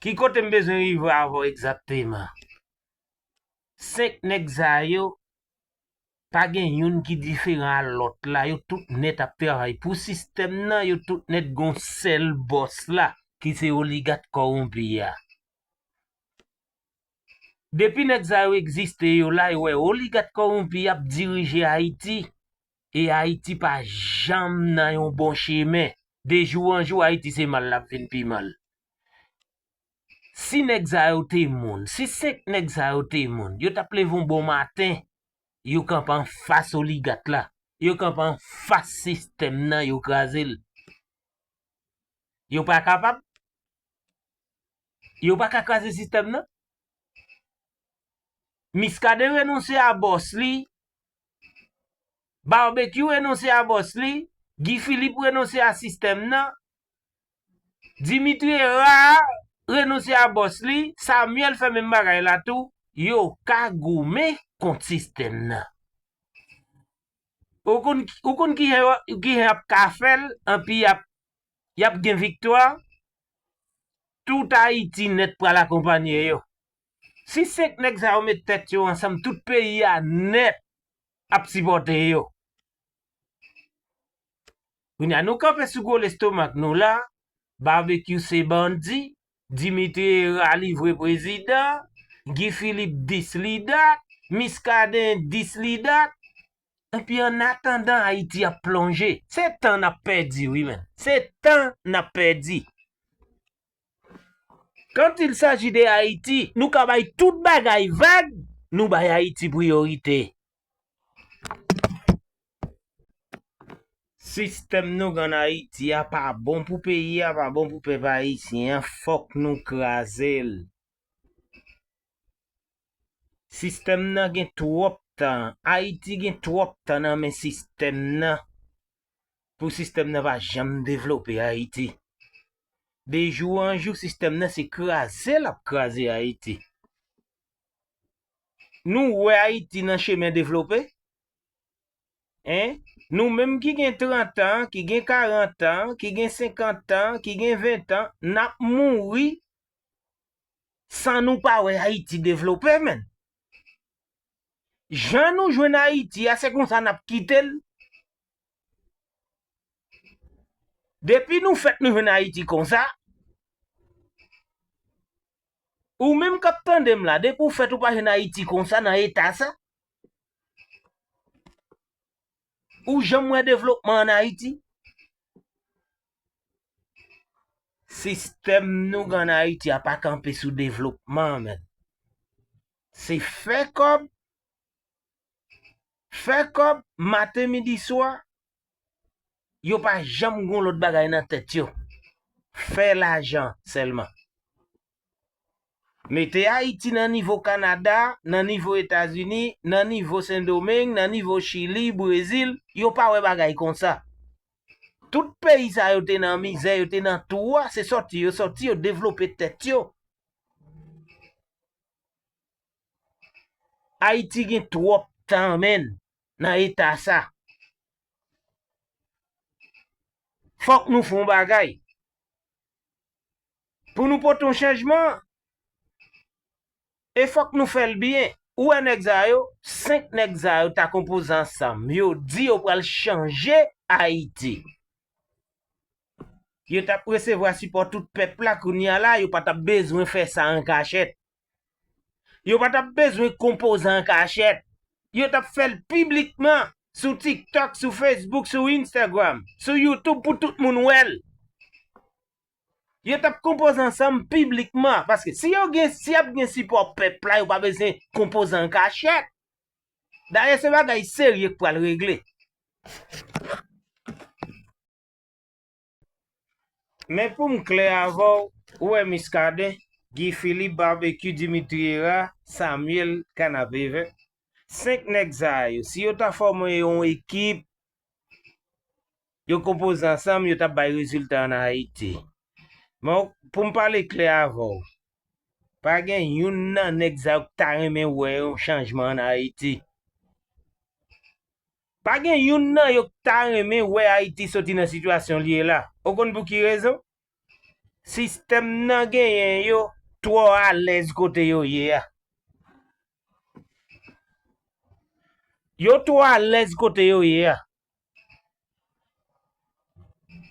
Ki kote m bezwen rive avè w egzakteman? 5 nèg sa yo pa gen youn ki diferan a lòt la yo tout nèt ap travay pou sistèm nan yo tout nèt gon sèl bòs la ki se oligat kowonpi a depi nèg sa yo egziste yo la yo wè oligat kowonpi ap dirije ayiti e ayiti pa janm nan yon bon chemen de jou an jou ayiti se mal lap vin pi mal. Si nèg sa yo te moun, si 5 nèg sa yo te moun, yo tap leve yon bon maten, yo kanpe anfas oligat la, yo kanpe anfas sistèm nan, yo kraze l. Yo pa kapab? Yo pa ka kraze sistèm nan? Miskaden renonse a bòs li, Barbecue renonse a bòs li, Guy Philippe renonse a sistèm nan, Dimitri rar renonse a bòs li, Samuel fè menm bagay la tou, yo ka goumen kont sistèm nan. Ou konn ou konn kijan yo kijan y ap ka fè l anpi y ap y ap gen viktwa? Tout Ayiti nèt pral akonpanye yo. Si 5 nèg sa yo met tèt yo ansanm tout peyi a nèt ap sipòte yo. Kounye a nou kanpe sou gwo lestomak nou la, Barbecue se bandi, Dimitri Herard li vre prezidan, Guy Philippe dis li dat, Muscadin dis li dat, epi an atandan Ayiti ap plonje. Se tan n ap pèdi wi menn, se tan n ap pèdi. Quand il s'agit de Haïti, nou ka bay tout bagay vag, nou bay Ayiti priyorite. Sistèm nou gen an Ayiti a pa bon pou peyi a, pa bon pou pèp ayisyen an, fòk nou kraze l. Sistèm nan gen twòp tan, Ayiti gen twòp tan nan men sistèm nan pou sistèm nan pa janm devlope Ayiti. De jou an jou sistèm nan se kraze l ap kraze Ayiti. Nou wè Ayiti nan chemen devlope? Hein? Nou menm ki gen 30 tan, ki gen 40 tan, ki gen 50 tan, ki gen 20 tan, nap mouri san nou pa wè Ayiti devlope menn. Jan nou jwenn Ayiti a se konsa nap kite l. Depi nou fèt nou jwenn Ayiti konsa. Ou menm kap tandem la depi ou fèt ou pa jwenn ayiti konsa nan eta sa? Ou janm wè devlopman an ayiti? Sistèm nou gen an ayiti a pa kanpe sou devlopman menn. Se fè kòb, fè kòb maten midi swa Yo pa janm gon lòt bagay nan tèt yo. Fè lajan sèlman. Mete Ayiti nan nivo Kanada, nan nivo Etazini, nan nivo Sendomeng, nan nivo Chili, Brezil, yo pa wè bagay konsa. Tout peyi sa yo te nan mizè, yo te nan twou a, se sòti yo sòti, yo devlope tèt yo. Ayiti gen twòp tan menn. nan eta sa. Fòk nou fè yon bagay. Pou nou pote yon chanjman, e fòk nou fè l byen. Ou wè nèg sa yo, 5 nèg sa yo ta konpoze ansanm, yo di yo pral chanje Ayiti. Yo t ap resevwa sipò tout pèp la, kounye a la yo pa t ap bezwen fè sa an kachèt. Yo pa tap bezwen konpozan an kachèt. Yo tap fè l piblikman sou TikTok, sou Facebook, sou Instagram, sou YouTube pou tout moun wè l. Yo tap konpoze ansanm piblikman. Paske si yo gen, si ap gen sipò pèp la, yo pa bezwen konpoze an kachèt. Dayè se bagay serye k pral regle. Men poum klè avèw, ou wè Muscadin, Guy Philippe, Barbecue, Dimitri Hera, Samuel, Canapevè, 5 nèg sa yo, si yo ta fòme yon ekip, yo konpoze ansanm, yo tap bay rezilta an Ayiti. Men poum pale klè avèw, pa gen youn nan nèg sa yo ki ta renmen wè yon chanjman an Ayiti. Pa gen youn nan yo k ta renmen wè Ayiti soti nan sitiyasyon li ye la. Ou konn pou ki rezon? Sistèm nan genyen yo twò alèz kote yo ye a. Yo twò alèz kote yo ye a.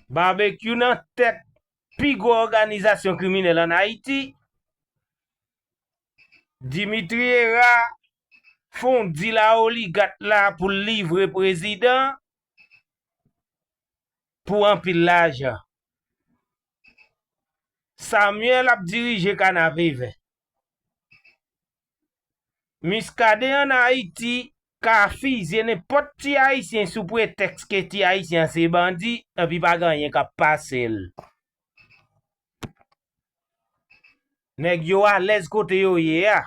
Babekyou nan tèt pi gwo òganizasyon kriminèl an Ayiti. Dimitri Hera fon dil a oligat la pou l livre prezidan pou anpil lajan. Samuel ap dirije kanaveve. Muscadin an Ayiti ka fizye nenpòt ti ayisyen sou pretèks ke ti ayisyen an se bandi epi pa gen anyen k ap pase l. Nèg yo alèz kote yo ye a.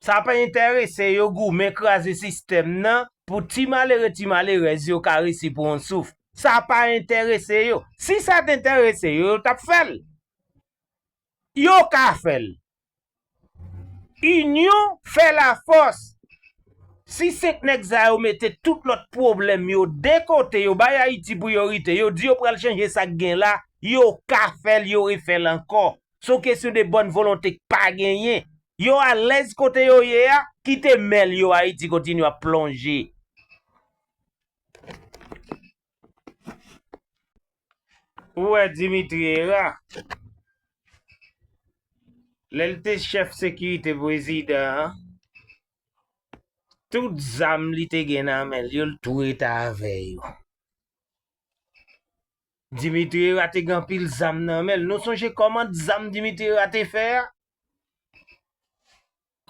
Sa pa enterese yo goumen kraze sistèm nan pou ti malere ti malerèz yo ka resi pran yon souf. Sa pa enterese yo. Si sa te enterese yo, yo t ap fè l. Yo ka fè l. Inyon fè lafòs. Si 5 nèg sa yo mete tout lòt pwoblèm yo de kote yo bay Ayiti priyorite yo di yo pral chanje sa k gen la yo ka fè l yo refè l ankò. S on kesyon de bòn volonte k pa genyen. Yo alèz kote yo ye a kite mèl yo Ayiti kontinye ap plonje. Ou wè Dimitri Hera, lè l te chèf sekirite prezidan an, tout zam li te gen nan men l yo, l tou rete avè yo. Dimitri Hera te gen anpil zam nan men l. Nou sonje kòmand zam Dimitri Hera te fè a?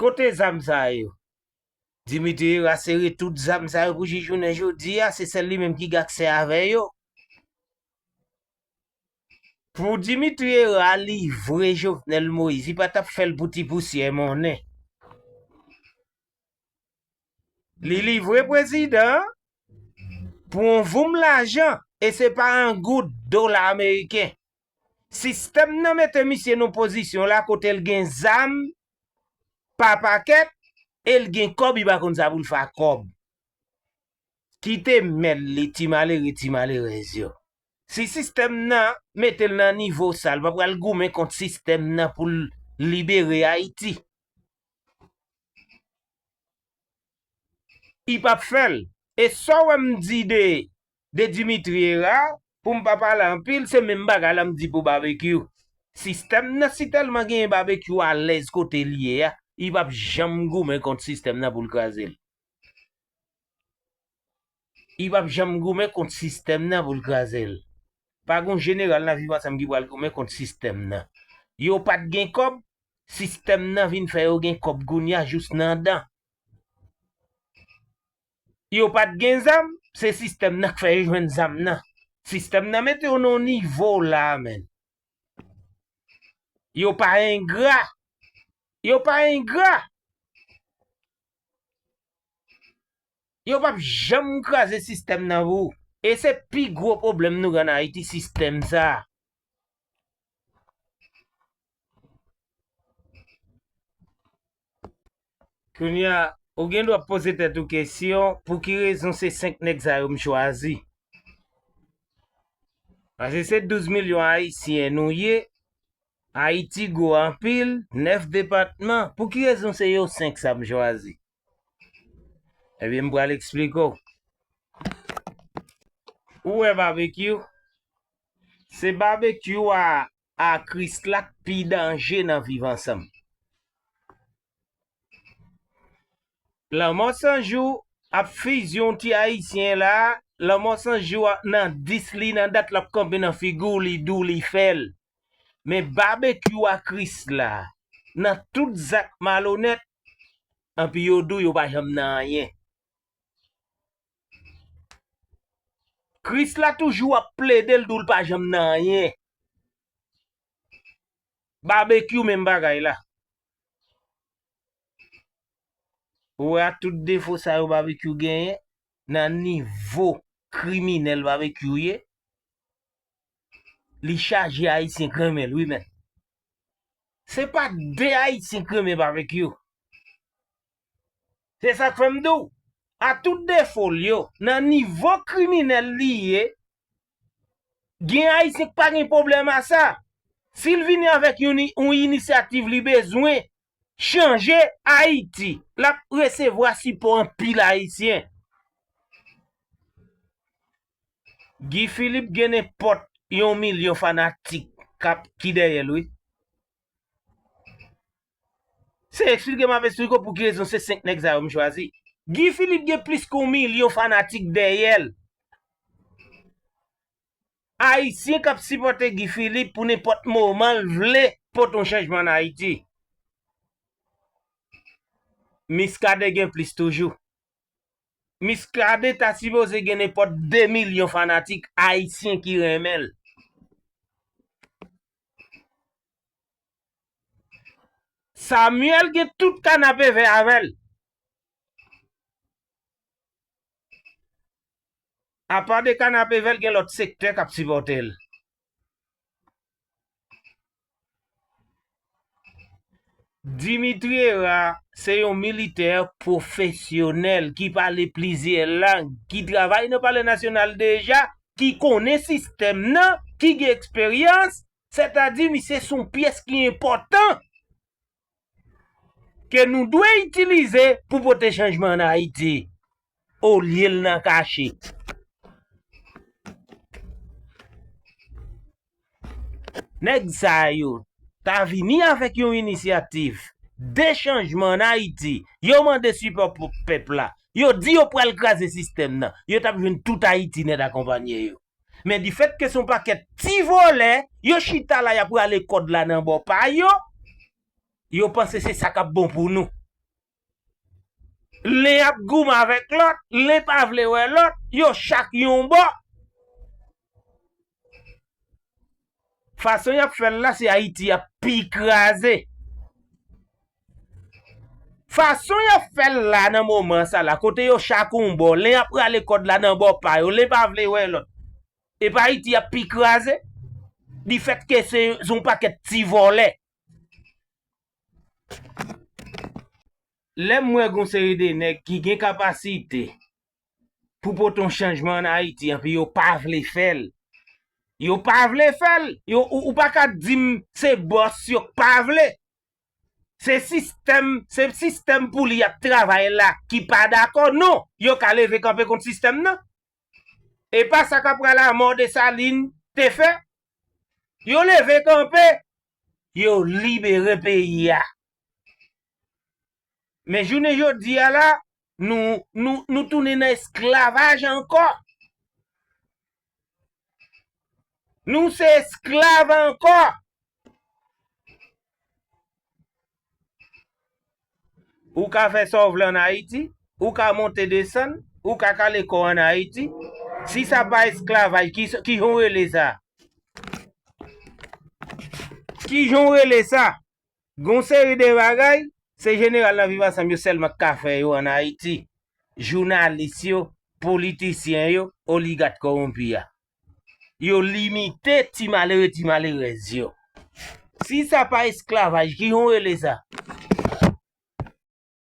Kote zam sa yo? Dimitri rasere tout zam sa yo pou jij jounen jodi a, se sèl li menm ki gen aksè avè yo. Pou Dimitri Hera livre Jovenel Moïse, li pa tap fèl pou ti pousyè monnen. Li livre prezidan an pou on voum lajan e se pa an goud, dola ameriken. Sistèm nan mete misye nan pozisyon la kote l gen zam pa pakèt e l gen kòb li pa konn sa pou l fè ak kòb. Kite mèl li ti malere ti malerèz yo. Si sistèm nan mete l nan nivo sa l pa pral goumen kont sistèm nan pou l libere Ayiti. I pap fè l. E sa w wè m di de de Dimitri Herard pou m pa pale anpil se menm bagay la m di pou Babekyou. Sistèm nan si tèlman genyen Babekyou alèz kote l ye a, li p ap janm goumen kont sistèm nan pou l kraze l. Li p ap janm goumen kont sistèm nan pou l kraze l. Pa gen yon jeneral nan Viv Ansanm ki pral goumen kont sistèm nan. Yo pa t gen kòb, sistèm nan vin fè yo gen kòb kounye a jous nan dan. yo pat gen zam se sistèm nan k fè yo jwenn zam nan sistèm nan mete yo nan nivo la menn yo pa engra yo pa engra yo pap janm kraze sistèm nan pou ou e se pi gwo pwoblèm nou gen an ayiti sistèm sa. Kounye a, ou gen dwa poze tèt ou kesyon, pou ki rezon se 5 nèg sa yo m chwazi? Pase se 12 milyon Ayisyen nou ye, Ayiti gwo anpil, 9 depatman, pou ki rezon se yo 5 sa m chwazi? Ebyen m pral eksplike w. Ou wè Babekyou, se Babekyou a a Kris la k pi danje nan viv ansanm. Lanmò san jou ap fizyon ti ayisyen la lanmò san jou a nan 10 li nan dat lap kanpe nan figiw li diw li fèl men babekyou a Kris la nan tout zak malonèt anpi yo diw yo pa janm nan anyen. Kris la toujou ap plede l di w l pa janm nan anyen. Babekyou menm bagay la. Ou wè ak tout defo sa yo Babekyou genyen, nan nivo kriminèl Babekyou ye, li chaje Ayisyen k renmen l wi menn. Se pa de Ayisyen k renmen Babekyou. Se sak fè m di w, a tout defo l yo, nan nivo kriminèl li ye, gen Ayisyen k pa gen pwoblèm a sa. Si l vini avèk yon inisyativ li bezwen chanje Ayiti, l ap resevwa sipò anpil Ayisyen. Guy Philippe gen nenpòt yon milyon fanatik k ap ki dèyè l wi. Se eksplike map eksplike w pou ki rezon se 5 nèg sa yo m chwazi. Guy Philippe gen plis ke yon milyon fanatik dèyèl. Ayisyen kap sipòte Guy Philippe pou nenpòt moman l vle pote yon chanjman an Ayiti. Miskaden gen plis toujou. Miskaden ta sipoze gen nenpòt 2 milyon fanatik ayisyen ki renmen l. Samuel gen tout kanapevè avèl. Apa de kanapevè l gen lòt sektè kap sipòte l. Dimitri Hera se yon militè pwofesyonèl ki pale plizyè lang, ki travay nan palè nasyonal deja, ki konnen sistèm nan, ki gen eksperyans, Sètadi misye se yon pyès ki enpòtan ke nou dwe itilize pou pote chanjman an Ayiti olye l nan kache. Nèg sa yo ta vini avèk yon inisyativ de chanjman an Ayiti, yo mande sipò pèp la, yo di yo pral kraze sistèm nan, yo t ap jwenn tout Ayiti nèt akonpanye yo. Men difèt ke son pakèt ti vòlè, yo chita la yap rale kòd la nan bò pa yo, yo panse se sa kap bon pou nou. Len ap goumen avèk lòt, len pa vle wè lòt, yo chak yon bò. Fason yap fèl la se ayiti yap pi kraze. Fason yap fèl la nan moman sa la kote yo chak yon bò len yap rale kòd la nan bò pa yo len pa vle wè lòt epa ayiti yap pi kraze di fèt ke se yon pakèt ti vòlè. Lèm wè gon seri de nèg ki gen kapasite pou pote yon chanjman an Ayiti anpi yo pa vle fè l. Yo pa vle fè l. Yo ou pa ka di m se bòs yo k pa vle. Se sistèm se sistèm pou li y ap travay la ki pa dakò non. Yo ka leve kanpe kont sistèm nan. E pa sa kapral amò Desalin te fè. Yo leve kanpe. Yo libere peyi a. Men jounen jodi a la, nou tounen nan esklavaj ankò. Nou se esklav ankò. Ou ka fè sa w vle an Ayiti, ou ka monte desann, ou ka kale kò w an Ayiti. Si sa pa esklavaj, ki jan w rele sa? Ki jan w rele sa? Gen yon seri de bagay, se jeneral nan viv ansanm yo sèlman ki ka fè yo an Ayiti. Jounalis yo, politisyen yo, oligat kowonpi a. Yo limite ti malere ti malerèz yo. Si sa pa esklavaj, ki jan w rele sa?